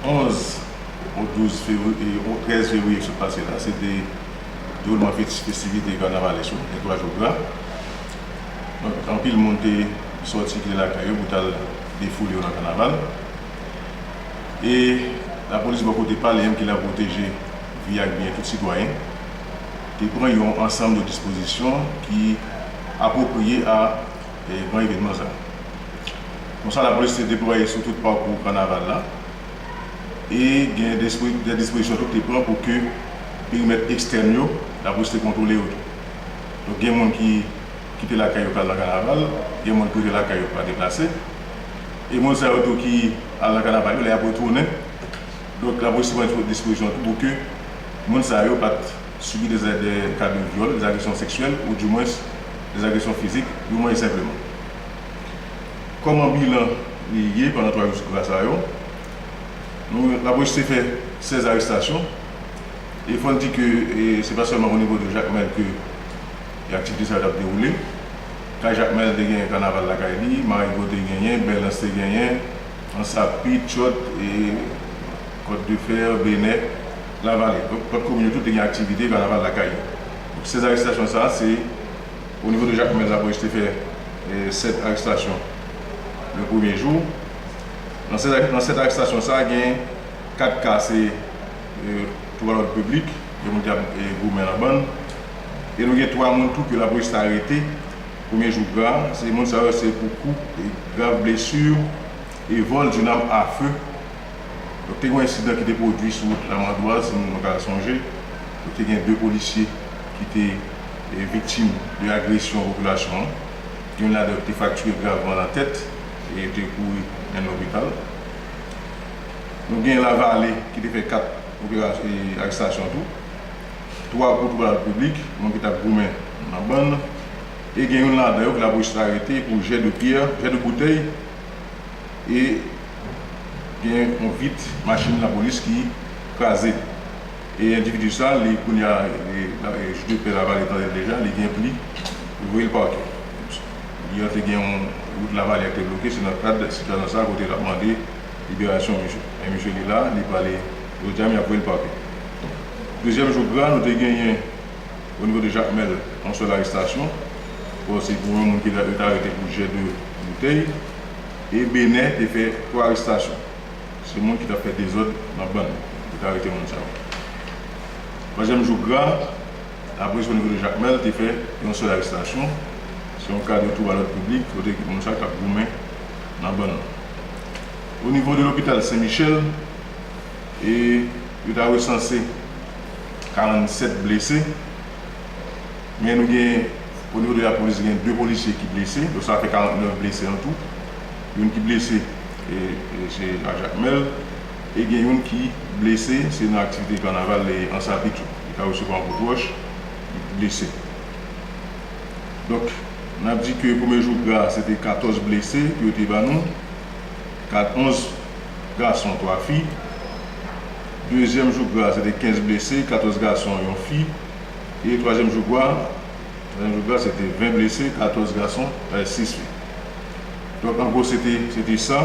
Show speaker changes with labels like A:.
A: Onz ou douz fevriye, ou trèz fevriye ki sot pase la, se te dewoulman festivite Kanavalès yo, de twa jou gran. Donk, anpil moun te sòti kite lakay yo pou t al defoule yo nan Kanaval. e lapolis bò kote pa li an ki la pou pwoteje vi ak byen tout sitwayen, te pran yon ansanm de dispozisyon ki apwopriye a gran evènman sa. Konsa lapolis te deplwaye sou tout pakou kanaval la e gen de dispozisyon tou ki te pran pou ke perimèt ekstèn yo lapolis te kontwole yo tou. Donk gen moun ki. kite lakay yo pral nan kanaval, gen moun ki rete lakay yo pou pa deplase. E moun sa yo tou ki al nan kanaval yo lè y ap retounen. Donk lapolis te pran yon dispozisyon tou pou ke moun sa yo pa t sibi de ka de vyòl, de agresyon seksyèl ou di mwens de agresyon fizik yon mwayen senpleman. Kòman bilan li ye pandan 3 jou sou plas sa yo? Nou lapolis te fè 16 arestasyon e fò n di ke se pa sèlman onivo de Jakmèl ke. e aktivite sa yo t ap dewoule. Kay Jakmèl te genyen kanaval lakay li, Marigo te genyen, Bèlans te genyen, Ansap, Pit, Tchòt, e Kòt de Fè, Benè, Lavale. Donk lòt komin yo tou te gen aktivite kanaval lakay yo. Donk 16 arestasyon sa a se onivo de Jakmèl Lapolis te fè 7 arestasyon le premye jou. Nan 7 arestasyon sa a gen 4 ka se. 3 lòd piblik, yon moun ki ap goumen an bann, e nou gen 3 moun tou ke lapolis te arete premye jou gra a, se moun sa yo se pou kou grav blesi e vòl di nam a fe. Donk te gen yon ensidan ki te pwodui sou wout Lamandwaz si moun nou ka sonje, kote te gen 2 polisye ki te viktim de agresyon popilasyon an, gen youn ladan yo ki te fraktire gravman nan tèt e yo te kouri mennen lopital. Nou gen Lavale ki te fè 4 arestasyon tou. 3 pou twoubal piblik, moun ki t ap goumen nan bann, e gen youn ladan yo ke lapolis te arete pou jè de pyè, jè de boutèy e gen yon vit machin lapolis ki kraze. E endividi sa, li kounye a, jij de pè Lavale tande l deja, li gen pou li voye l pakè. Yè te gen yon wout Lavale a ki te bloke, se nan kad sitiyasyon sa a kote l ap mande. Liberasyon M. Michel li la, li pale, jodi a m y ap voye l pake. Dezyèm jou gra, nou te genyen onivo de Jakmèl yon sèl arestasyon, bon se pou yon moun ki yo te arete pou jè de boutèy e Benè te fè twa arestasyon, se moun ki t ap fè dezòd nan bann yo te arete moun sa yo. Twazyèm jou gra. Lapolis Kominal Kote Jakmèl te fè yon sèl arestasyon, se yon ka de twoubalòd piblik kote moun sa t ap goumen nan bann. Onivo de lopital Sen Michèl, e yo ta resanse 47 blese, men nou gen onivo de lapolis gen 2 polisye ki blese, donk sa fè 49 blese antou, youn ki blese e se a Jakmèl. e gen youn ki blese, se nan aktivite kanaval e Ansapit yo. Li ta resevwa yon kout wòch, li blese. Donk, n ap di ke premye jou gra a, se te 14 blese ke yo te ba nou, 11 gason, 3 fi. Dezyèm jou gra a, se te 15 blese, 14 gason, yon fi. E twazyèm jou gra a, twazyèm jou gra a, se te 20 blese, 14 gason, 6 fi. Donk, an gwo, se te, se te sa.